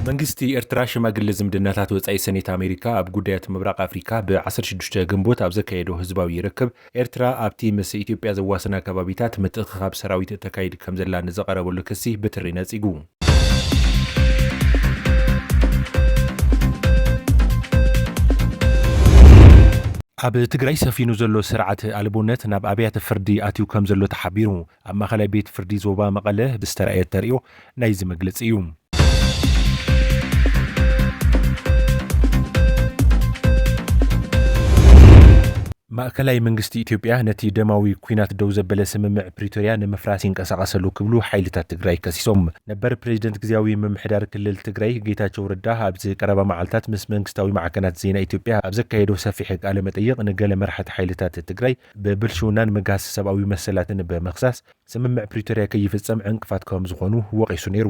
መንግስቲ ኤርትራ ሽማግለ ዝምድናታት ወጻኢ ሰኔት ኣሜሪካ ኣብ ጉዳያት ምብራቕ ኣፍሪካ ብ16 ግንቦት ኣብ ዘካየዶ ህዝባዊ ርክብ ኤርትራ ኣብቲ ምስ ኢትዮጵያ ዘዋስና ከባቢታት ምትእኽኻብ ሰራዊት እተካይድ ከምዘላ ንዝቐረበሉ ክሲ ብትሪ ነጺጉ። ኣብ ትግራይ ሰፊኑ ዘሎ ስርዓት ኣልቦነት ናብ ኣብያተ ፍርዲ ኣትዩ ከም ዘሎ ተሓቢሩ። ኣብ ማእኸላይ ቤት ፍርዲ ዞባ መቐለ ብዝተረኣየ ተርእዮ ናይዚ መግለፂ እዩ። ማእከላይ መንግስቲ ኢትዮጵያ ነቲ ደማዊ ኲናት ደው ዘበለ ስምምዕ ፕሪቶርያ ንምፍራስ ይንቀሳቐስ ኣሎ ክብሉ ሓይልታት ትግራይ ከሲሶም። ነበር ፕሬዚደንት ግዝያዊ ምምሕዳር ክልል ትግራይ ጌታቸው ረዳ ኣብዚ ቀረባ መዓልታት ምስ መንግስታዊ ማዕከናት ዜና ኢትዮጵያ ኣብ ዘካየዶ ሰፊሕ ቃለ መጠይቕ ንገለ መራሕቲ ሓይልታት ትግራይ ብብልሽውናን ምግሃስ ሰብኣዊ መሰላትን ብምኽሳስ ስምምዕ ፕሪቶርያ ከይፍፀም ዕንቅፋት ከምዝኾኑ ወቒሱ ነይሩ።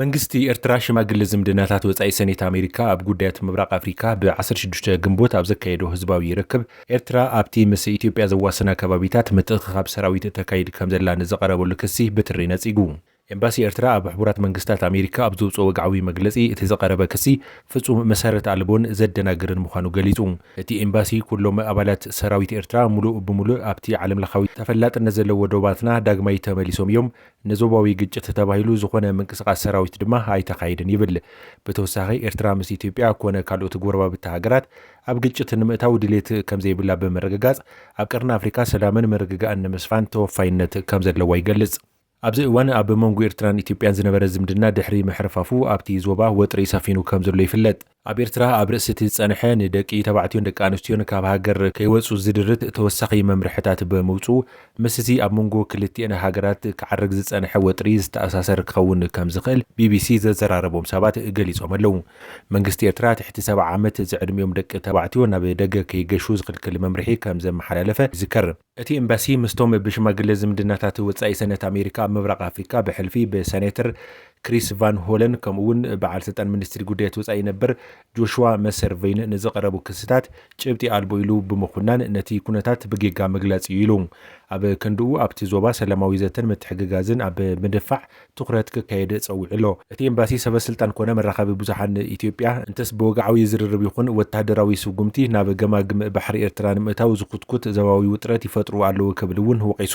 መንግስቲ ኤርትራ ሽማግለ ዝምድናታት ወጻኢ ሰኔት ኣሜሪካ ኣብ ጉዳያት ምብራቕ ኣፍሪካ ብ ዓሰርተ ሽዱሽተ ግንቦት ኣብ ዘካየዶ ህዝባዊ ርክብ ኤርትራ ኣብቲ ምስ ኢትዮጵያ ዘዋስና ከባቢታት ምትእኽኻብ ሰራዊት ተካይድ ከምዘላ ንዝቐረበሉ ክሲ ብትሪ ነጺጉ። ኤምባሲ ኤርትራ ኣብ ሕቡራት መንግስታት ኣሜሪካ ኣብ ዘውጽኦ ወግዓዊ መግለጺ እቲ ዝቐረበ ክሲ ፍጹም መሰረት ኣልቦን ዘደናግርን ምዃኑ ገሊጹ። እቲ ኤምባሲ ኩሎም ኣባላት ሰራዊት ኤርትራ ምሉእ ብምሉእ ኣብቲ ዓለምለኻዊ ተፈላጥነት ዘለዎ ዶባትና ዳግማይ ተመሊሶም እዮም፣ ንዞባዊ ግጭት ተባሂሉ ዝኾነ ምንቅስቓስ ሰራዊት ድማ ኣይተኻይድን ይብል። ብተወሳኺ ኤርትራ ምስ ኢትዮጵያ ኮነ ካልኦት ጎረባብቲ ሃገራት ኣብ ግጭት ንምእታው ድሌት ከምዘይብላ ብምርግጋጽ፣ ኣብ ቀርኒ ኣፍሪቃ ሰላምን ምርግጋእን ንምስፋን ተወፋይነት ከምዘለዋ ይገልጽ። ኣብዚ እዋን ኣብ መንጎ ኤርትራን ኢትዮጵያን ዝነበረ ዝምድና ድሕሪ ምሕርፋፉ ኣብቲ ዞባ ወጥሪ ሰፊኑ ከምዘሎ ይፍለጥ። ኣብ ኤርትራ ኣብ ርእሲ እቲ ዝጸንሐ ንደቂ ተባዕትዮን ደቂ ኣንስትዮን ካብ ሃገር ከይወጹ ዝድርት ተወሳኺ መምርሕታት ብምውጽኡ ምስ እዚ ኣብ መንጎ ክልቲኤን ሃገራት ክዓርግ ዝጸንሐ ወጥሪ ዝተኣሳሰር ክኸውን ከም ዝኽእል ቢቢሲ ዘዘራረቦም ሰባት ገሊጾም ኣለዉ። መንግስቲ ኤርትራ ትሕቲ ሰብዓ ዓመት ዝዕድሚኦም ደቂ ተባዕትዮ ናብ ደገ ከይገሹ ዝኽልክል መምርሒ ከም ዘመሓላለፈ ይዝከር። እቲ ኤምባሲ ምስቶም ብሽማግለ ዝምድናታት ወጻኢ ሰነት ኣሜሪካ ኣብ ምብራቕ ኣፍሪካ ብሕልፊ ብሰኔተር ክሪስ ቫን ሆለን ከምኡ እውን በዓል ስልጣን ሚኒስትሪ ጉዳያት ወጻኢ ነበር ጆሽዋ መሰር ቨይን ንዝቐረቡ ክስታት ጭብጢ ኣልቦ ኢሉ ብምኹናን ነቲ ኩነታት ብጌጋ ምግላጽ እዩ ኢሉ። ኣብ ክንድኡ ኣብቲ ዞባ ሰላማዊ ዘተን ምትሕግጋዝን ኣብ ምድፋዕ ትኹረት ክካየድ ጸዊዑ ኣሎ። እቲ ኤምባሲ ሰበ ስልጣን ኮነ መራኸቢ ብዙሓን ኢትዮጵያ እንተስ ብወግዓዊ ዝርርብ ይኹን ወተሃደራዊ ስጉምቲ ናብ ገማግም ባሕሪ ኤርትራ ንምእታው ዝኹትኩት ዘባዊ ውጥረት ይፈጥሩ ኣለዉ ክብል እውን ወቒሱ።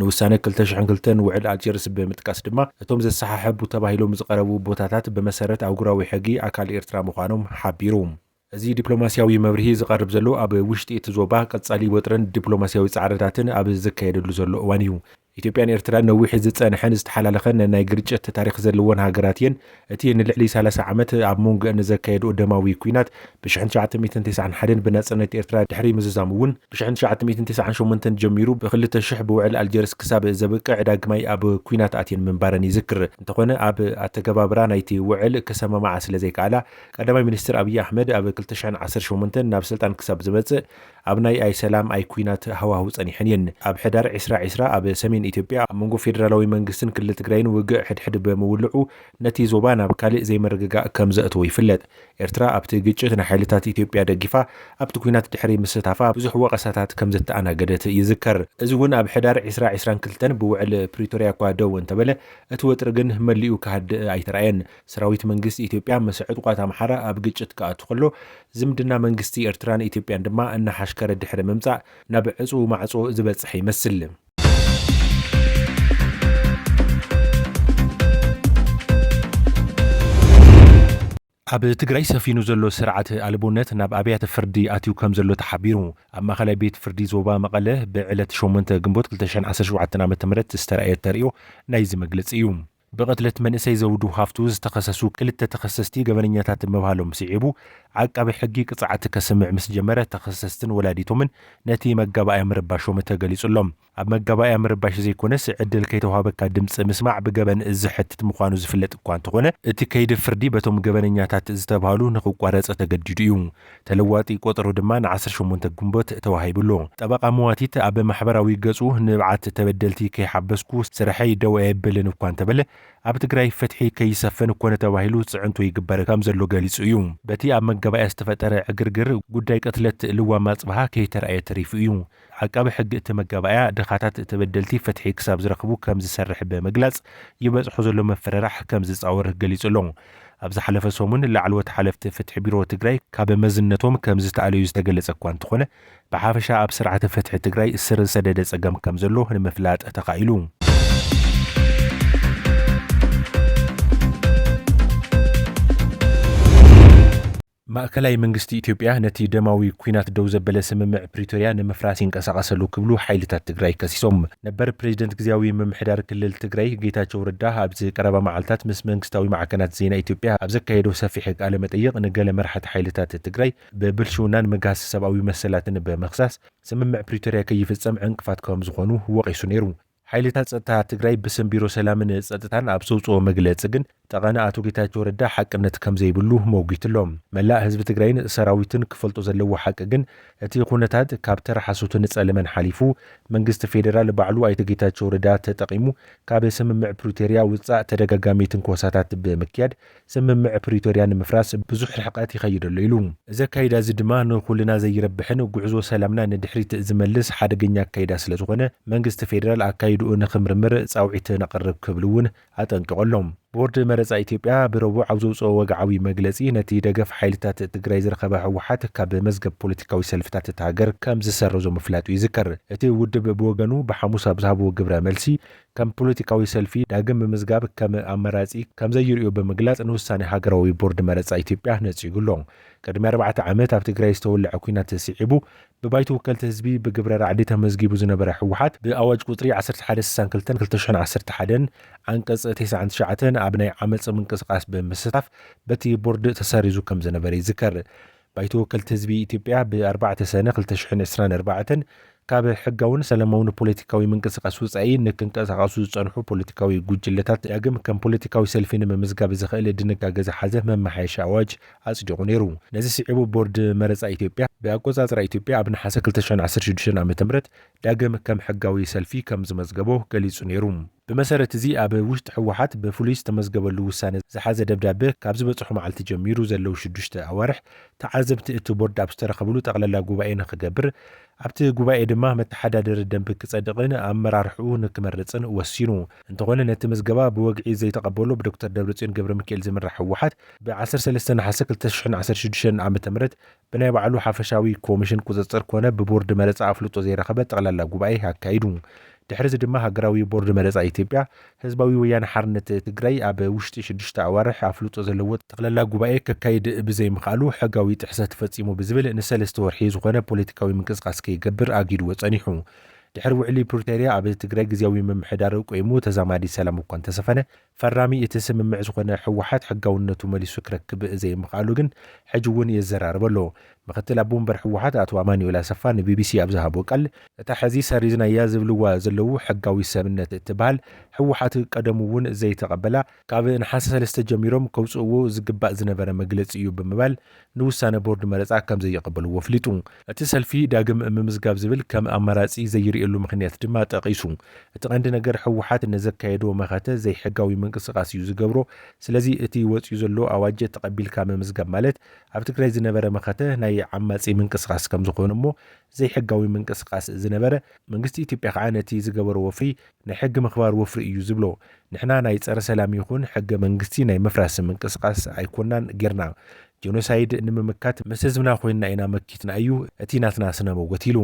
ንውሳነ ክልተ ሽሕን ክልተን ውዕል ኣልጀርስ ብምጥቃስ ድማ እቶም ዘሰሓሕቡ ተባሂሎም ዝቐረቡ ቦታታት ብመሰረት ኣህጉራዊ ሕጊ ኣካል ኤርትራ ምዃኖም ሓቢሩ። እዚ ዲፕሎማሲያዊ መብርሂ ዝቐርብ ዘሎ ኣብ ውሽጢ እቲ ዞባ ቀጻሊ ወጥርን ዲፕሎማሲያዊ ጻዕርታትን ኣብ ዝካየደሉ ዘሎ እዋን እዩ። ኢትዮጵያን ኤርትራን ነዊሕ ዝጸንሐን ዝተሓላለኸን ነናይ ግርጭት ታሪኽ ዘለወን ሃገራት እየን። እቲ ንልዕሊ ሰላሳ ዓመት ኣብ ሞንጎኣን ዘካየድኦ ደማዊ ኲናት ብሽሕን ትሽዓተ ሚእትን ተስዓን ሓደን ብናጽነት ኤርትራ ድሕሪ ምዝዛሙ እውን ብሽሕን ትሽዓተ ሚእትን ተስዓን ሸሞንተን ጀሚሩ ብክልተ ሽሕ ብውዕል ኣልጀርስ ክሳብ ዘብቅዕ ዳግማይ ኣብ ኲናት ኣትየን ምንባረን ይዝክር። እንተኾነ ኣብ ኣተገባብራ ናይቲ ውዕል ክሰማማዓ ስለዘይከኣላ ቀዳማይ ሚኒስትር ኣብዪ ኣሕመድ ኣብ ክልተ ሽሕን ዓሰርተ ሸሞንተን ናብ ስልጣን ክሳብ ዝመፅእ ኣብ ናይ ኣይ ሰላም ኣይ ኲናት ሃዋህው ፀኒሐን እየን። ኣብ ሕዳር ዕስራ ዕስራ ኣብ ሰሜን ኢትዮጵያ ኣብ መንጎ ፌደራላዊ መንግስትን ክልል ትግራይን ውግእ ሕድሕድ ብምውልዑ ነቲ ዞባ ናብ ካሊእ ዘይምርግጋእ ከም ዘእተዎ ይፍለጥ። ኤርትራ ኣብቲ ግጭት ንሓይልታት ኢትዮጵያ ደጊፋ ኣብቲ ኲናት ድሕሪ ምስታፋ ብዙሕ ወቐሳታት ከም ዘተኣናገደት ይዝከር። እዚ እውን ኣብ ሕዳር ዕስራ ዕስራን ክልተን ብውዕል ፕሪቶርያ እኳ ደው እንተበለ እቲ ወጥሪ ግን መሊኡ ክሃድእ ኣይተርኣየን። ሰራዊት መንግስቲ ኢትዮጵያ ምስ ዕጡቓት ኣምሓራ ኣብ ግጭት ክኣቱ ከሎ፣ ዝምድና መንግስቲ ኤርትራን ኢትዮጵያን ድማ እናሓሽከረ ድሕሪ ምምጻእ ናብ ዕጽዉ ማዕጾ ዝበጽሐ ይመስል። ኣብ ትግራይ ሰፊኑ ዘሎ ስርዓት ኣልቦነት ናብ ኣብያተ ፍርዲ ኣትዩ ከም ዘሎ ተሓቢሩ። ኣብ ማእኸላይ ቤት ፍርዲ ዞባ መቐለ ብዕለት 8 ግንቦት 2017 ዓ ም ዝተረኣየ ተርእዮ ናይዚ መግለፂ እዩ። ብቕትለት መንእሰይ ዘውዱ ሃፍቱ ዝተኸሰሱ ክልተ ተኸሰስቲ ገበነኛታት ምባሎም ስዒቡ ዓቃቢ ሕጊ ቅፅዓት ከስምዕ ምስ ጀመረ ተኸሰስትን ወላዲቶምን ነቲ መጋባእያ ምርባሾም ተገሊፁ'ሎ። ኣብ መጋባእያ ምርባሽ ዘይኮነስ ዕድል ከይተውሃበካ ድምፂ ምስማዕ ብገበን ዘሕትት ምዃኑ ዝፍለጥ እኳ እንተኾነ እቲ ከይዲ ፍርዲ በቶም ገበነኛታት ዝተብሃሉ ንኽቋረፅ ተገዲዱ እዩ። ተለዋጢ ቆጸሮ ድማ ንዓሰርተ ሸሞንተ ግንቦት ተዋሂቡ ኣሎ። ጠበቓ መዋቲት ኣብ ማሕበራዊ ገጹ ንብዓት ተበደልቲ ከይሓበስኩ ስርሐይ ደው ኣየብልን እኳ እንተበለ፣ ኣብ ትግራይ ፍትሒ ከይሰፍን ኮነ ተባሂሉ ጽዕንቶ ይግበር ከምዘሎ ገሊጹ እዩ። በቲ ኣብ መጋባእያ ዝተፈጠረ ዕግርግር ጉዳይ ቅትለት ልዋም ኣጽብሃ ከይተራእየ ተሪፉ እዩ። ዓቃቢ ሕጊ እቲ መጋባእያ ድኻታት ተበደልቲ ፍትሒ ክሳብ ዝረኽቡ ከም ዝሰርሕ ብምግላጽ፣ ይበጽሖ ዘሎ ምፍርራሕ ከም ዝጻወር ገሊጹ ኣሎ። ኣብ ዝሓለፈ ሰሙን ላዕለዎት ሓለፍቲ ፍትሒ ቢሮ ትግራይ ካብ መዝነቶም ከም ዝተኣለዩ ዝተገለጸ እኳ እንተኾነ፣ ብሓፈሻ ኣብ ስርዓተ ፍትሒ ትግራይ ስር ዝሰደደ ጸገም ከም ዘሎ ንምፍላጥ ተኻኢሉ። ማእከላይ መንግስቲ ኢትዮጵያ ነቲ ደማዊ ኲናት ደው ዘበለ ስምምዕ ፕሪቶርያ ንምፍራስ ይንቀሳቐሰሉ ክብሉ ሓይልታት ትግራይ ከሲሶም። ነበር ፕሬዚደንት ግዝያዊ ምምሕዳር ክልል ትግራይ ጌታቸው ረዳ ኣብዚ ቀረባ መዓልታት ምስ መንግስታዊ ማዕከናት ዜና ኢትዮጵያ ኣብ ዘካየዶ ሰፊሕ ቃለ መጠይቕ ንገለ መራሕቲ ሓይልታት ትግራይ ብብልሽውናን ምግሃስ ሰብኣዊ መሰላትን ብምኽሳስ ስምምዕ ፕሪቶርያ ከይፍፀም ዕንቅፋት ከምዝኾኑ ወቒሱ ነይሩ። ሓይልታት ፀጥታ ትግራይ ብስም ቢሮ ሰላምን ፀጥታን ኣብ ዘውፅኦ መግለፂ ግን ጠቐነ ኣቶ ጌታቸው ረዳ ሓቅነት ከምዘይብሉ ሞጒቱ'ሎ። መላእ ህዝቢ ትግራይን ሰራዊትን ክፈልጦ ዘለዎ ሓቂ ግን እቲ ኩነታት ካብ ተራ ሓሶትን ፀለመን ሓሊፉ መንግስቲ ፌደራል ባዕሉ ኣይተ ጌታቸው ረዳ ተጠቒሙ ካብ ስምምዕ ፕሪቶርያ ውፃእ ተደጋጋሚ ትንኮሳታት ብምክያድ ስምምዕ ፕሪቶርያ ንምፍራስ ብዙሕ ርሕቐት ይኸይድ ኣሎ ኢሉ። እዚ ኣካይዳ እዚ ድማ ንኹልና ዘይረብሕን ጉዕዞ ሰላምና ንድሕሪት ዝመልስ ሓደገኛ ኣካይዳ ስለዝኾነ መንግስቲ ፌደራል ኣካይድኡ ንኽምርምር ፃውዒት ነቕርብ ክብል እውን ኣጠንቂቑ ኣሎ። ቦርድ መረፃ ኢትዮጵያ ብረቡዕ ኣብ ዘውፅኦ ወግዓዊ መግለፂ ነቲ ደገፍ ሓይልታት ትግራይ ዝረኸበ ህወሓት ካብ መዝገብ ፖለቲካዊ ሰልፍታት እታ ሃገር ከምዝሰረዞ ምፍላጡ ይዝከር። እቲ ውድብ ብወገኑ ብሓሙስ ኣብ ዝሃቦ ግብረ መልሲ ከም ፖለቲካዊ ሰልፊ ዳግም ምምዝጋብ ከም ኣማራጺ ከም ዘይርእዮ ብምግላጽ ንውሳኔ ሃገራዊ ቦርድ መረጻ ኢትዮጵያ ነጺጉ ኣሎ። ቅድሚ ኣርባዕተ ዓመት ኣብ ትግራይ ዝተወልዐ ኲናት ስዒቡ ብባይቶ ወከልቲ ህዝቢ ብግብረ ራዕዲ ተመዝጊቡ ዝነበረ ህወሓት፣ ብኣዋጅ ቁጽሪ ዓሰርተ ሓደ ስሳን ክልተን ክልተ ሽሕን ዓሰርተ ሓደን ዓንቀጽ ተስዓን ትሽዓተን ኣብ ናይ ዓመጽ ምንቅስቓስ ብምስታፍ በቲ ቦርድ ተሰሪዙ ከም ዝነበረ ይዝከር። ባይቶ ወከልቲ ህዝቢ ኢትዮጵያ ብ ኣርባዕተ ሰነ ክልተ ሽሕን ዕስራን ኣርባዕተን ካብ ሕጋውን ሰላማውን ፖለቲካዊ ምንቅስቓስ ወጻኢ ንክንቀሳቐሱ ዝጸንሑ ፖለቲካዊ ጉጅለታት ዳግም ከም ፖለቲካዊ ሰልፊ ንምምዝጋብ ዘኽእል ድንጋገ ዝሓዘ መመሓየሺ ኣዋጅ ኣጽዲቑ ነይሩ። ነዚ ስዒቡ ቦርድ መረጻ ኢትዮጵያ ብኣቆጻጽራ ኢትዮጵያ ኣብ ነሓሰ ክልተ ሽሕን ዓሰርተ ሽዱሽተን ዓመተ ምህረት ዳግም ከም ሕጋዊ ሰልፊ ከም ዝመዝገቦ ገሊጹ ነይሩ። ብመሰረት እዚ ኣብ ውሽጢ ህወሓት ብፍሉይ ዝተመዝገበሉ ውሳነ ዝሓዘ ደብዳበ ካብ ዝበጽሖ መዓልቲ ጀሚሩ ዘለዉ ሽዱሽተ ኣዋርሕ ተዓዘብቲ እቲ ቦርድ ኣብ ዝተረኸብሉ ጠቕላላ ጉባኤ ንክገብር ኣብቲ ጉባኤ ድማ መተሓዳደሪ ደንቢ ክጸድቕን ኣመራርሕኡ ንክመርጽን ወሲኑ። እንተኾነ ነቲ ምዝገባ ብወግዒ ዘይተቐበሎ ብዶክተር ደብረጽዮን ገብረሚካኤል ዝምራሕ ህወሓት ብ ዓሰርተ ሰለስተ ነሓሰ ክልተ ሽሕን ዓሰርተ ሽዱሽተን ዓመተ ምህረት ብናይ ባዕሉ ሓፈሻዊ ኮሚሽን ቁፅፅር ኮነ ብቦርድ መረፃ ኣፍልጦ ዘይረኸበ ጠቕላላ ጉባኤ ኣካይዱ። ድሕሪዚ ድማ ሃገራዊ ቦርድ መረፃ ኢትዮጵያ ህዝባዊ ወያነ ሓርነት ትግራይ ኣብ ውሽጢ ሽዱሽተ ኣዋርሕ ኣፍልጦ ዘለዎ ጠቕላላ ጉባኤ ከካይድ ብዘይምኽኣሉ ሕጋዊ ጥሕሰት ፈፂሙ ብዝብል ንሰለስተ ወርሒ ዝኾነ ፖለቲካዊ ምንቅስቓስ ከይገብር ኣጊድዎ ፀኒሑ። ድሕሪ ውዕሊ ፕሪቶሪያ ኣብ ትግራይ ግዝያዊ ምምሕዳር ቆይሙ ተዛማዲ ሰላም እኳ እንተሰፈነ፣ ፈራሚ እቲ ስምምዕ ዝኾነ ህወሓት ሕጋውነቱ መሊሱ ክረክብ ዘይምኽኣሉ ግን ሕጂ እውን የዘራርብ ኣሎ። ምክትል ኣቦ ወንበር ህወሓት ኣቶ ኣማኑኤል ኣሰፋ ንቢቢሲ ኣብ ዝሃቦ ቃል፣ እታ ሕዚ ሰሪዝናያ ዝብልዋ ዘለዉ ሕጋዊት ሰብነት እትበሃል ህወሓት ቀደሙ እውን ዘይተቐበላ ካብ ነሓሰ ሰለስተ ጀሚሮም ከውፅእዎ ዝግባእ ዝነበረ መግለፂ እዩ ብምባል ንውሳነ ቦርድ መረፃ ከምዘይቕበልዎ ኣፍሊጡ። እቲ ሰልፊ ዳግም ምምዝጋብ ዝብል ከም ኣማራፂ ዘይርእየሉ ምኽንያት ድማ ጠቒሱ። እቲ ቀንዲ ነገር ህወሓት ንዘካየዶ መኸተ ዘይሕጋዊ ምንቅስቓስ እዩ ዝገብሮ። ስለዚ እቲ ወፂኡ ዘሎ ኣዋጀ ተቐቢልካ ምምዝጋብ ማለት ኣብ ትግራይ ዝነበረ መኸተ ናይ ዓማፂ ምንቅስቓስ ከምዝኾነ እሞ ዘይሕጋዊ ምንቅስቓስ ዝነበረ፣ መንግስቲ ኢትዮጵያ ከኣ ነቲ ዝገበሮ ወፍሪ ናይ ሕጊ ምኽባር ወፍሪ እዩ ዝብሎ። ንሕና ናይ ጸረ ሰላም ይኹን ሕገ መንግስቲ ናይ ምፍራስ ምንቅስቓስ ኣይኮናን ጌርና። ጀኖሳይድ ንምምካት ምስ ህዝብና ኮይንና ኢና መኪትና እዩ እቲ ናትና ስነ መጎት ኢሉ።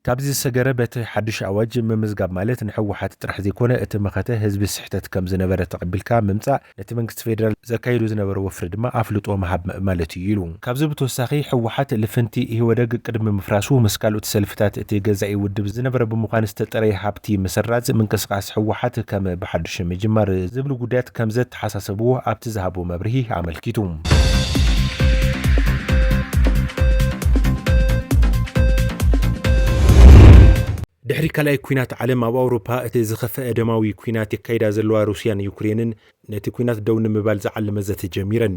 ካብዚ ዝሰገረ በቲ ሓዱሽ ኣዋጅ ምምዝጋብ ማለት ንሕወሓት ጥራሕ ዘይኮነ እቲ መኸተ ህዝቢ ስሕተት ከም ዝነበረ ተቐቢልካ ምምጻእ ነቲ መንግስቲ ፌደራል ዘካይዶ ዝነበረ ወፍሪ ድማ ኣፍልጦ ምሃብ ማለት እዩ ኢሉ። ካብዚ ብተወሳኺ ህወሓት ልፍንቲ ኢህወደግ ቅድሚ ምፍራሱ ምስ ካልኦት ሰልፍታት እቲ ገዛኢ ውድብ ዝነበረ ብምዃን ዝተጠረየ ሃብቲ ምስራዝ፣ ምንቅስቓስ ህወሓት ከም ብሓዱሽ ምጅማር ዝብሉ ጉዳያት ከምዘተሓሳሰብዎ ኣብቲ ዝሃቦ መብርሂ ኣመልኪቱ። ድሕሪ ካልኣይ ኲናት ዓለም ኣብ ኣውሮፓ እቲ ዝኸፈኣ ደማዊ ኲናት የካይዳ ዘለዋ ሩስያን ዩክሬንን ነቲ ኲናት ደው ንምባል ዝዓለመ ዘተ ጀሚረን።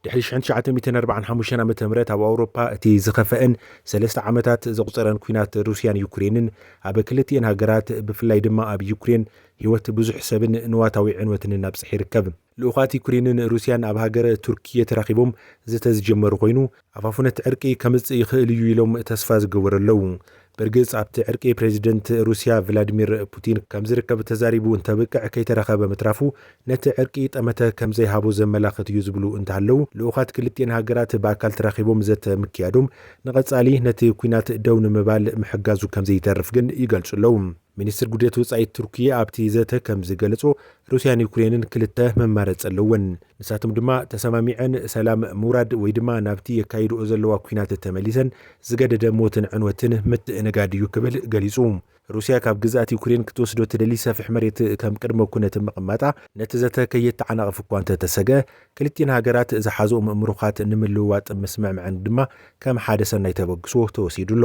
ድሕሪ ሽሕን ትሽዓተ ሚእትን ኣርብዓን ሓሙሽተን ዓመተ ምህረት ኣብ ኣውሮፓ እቲ ዝኸፈኣን ሰለስተ ዓመታት ዘቑጸረን ኲናት ሩስያን ዩክሬንን ኣብ ክልቲኤን ሃገራት ብፍላይ ድማ ኣብ ዩክሬን ህይወት ብዙሕ ሰብን ንዋታዊ ዕንወትንን ኣብጽሕ ይርከብ። ልኡኻት ዩክሬንን ሩስያን ኣብ ሃገረ ቱርኪየ ተራኺቦም ዘተ ዝጀመሩ ኮይኑ፣ ኣፋፉነት ዕርቂ ከምጽእ ይኽእል እዩ ኢሎም ተስፋ ዝገበሩ ኣለዉ። ብርግጽ ኣብቲ ዕርቂ ፕረዚደንት ሩስያ ቭላድሚር ፑቲን ከምዝርከብ ተዛሪቡ እንተብቅዕ ከይተረኸበ ምትራፉ ነቲ ዕርቂ ጠመተ ከምዘይሃቦ ዘመላኽት እዩ ዝብሉ እንተሃለዉ፣ ልኡኻት ክልቲኤን ሃገራት ብኣካል ተራኺቦም ዘተ ምክያዶም ንቐጻሊ ነቲ ኲናት ደው ንምባል ምሕጋዙ ከምዘይተርፍ ግን ይገልጹ ኣለዉ። ሚኒስትር ጉዴት ወጻኢት ቱርኪ ኣብቲ ዘተ ከም ዝገለጾ፣ ሩስያን ዩክሬንን ክልተ መማረጺ ኣለወን። ንሳቶም ድማ ተሰማሚዐን ሰላም ምውራድ ወይ ድማ ናብቲ የካይድኦ ዘለዋ ኲናት ተመሊሰን ዝገደደ ሞትን ዕንወትን ምትእንጋድ እዩ ክብል ገሊጹ። ሩስያ ካብ ግዝኣት ዩክሬን ክትወስዶ ትደሊ ሰፊሕ መሬት ከም ቅድመ ኩነት ምቕማጣ ነቲ ዘተ ከየተዓናቕፍ እኳ እንተተሰግአ፣ ክልቲኤን ሃገራት ዝሓዝኦም እምሩካት ንምልውዋጥ ምስምዕመዐን ድማ ከም ሓደ ሰናይ ተበግሶ ተወሲዱ ኣሎ።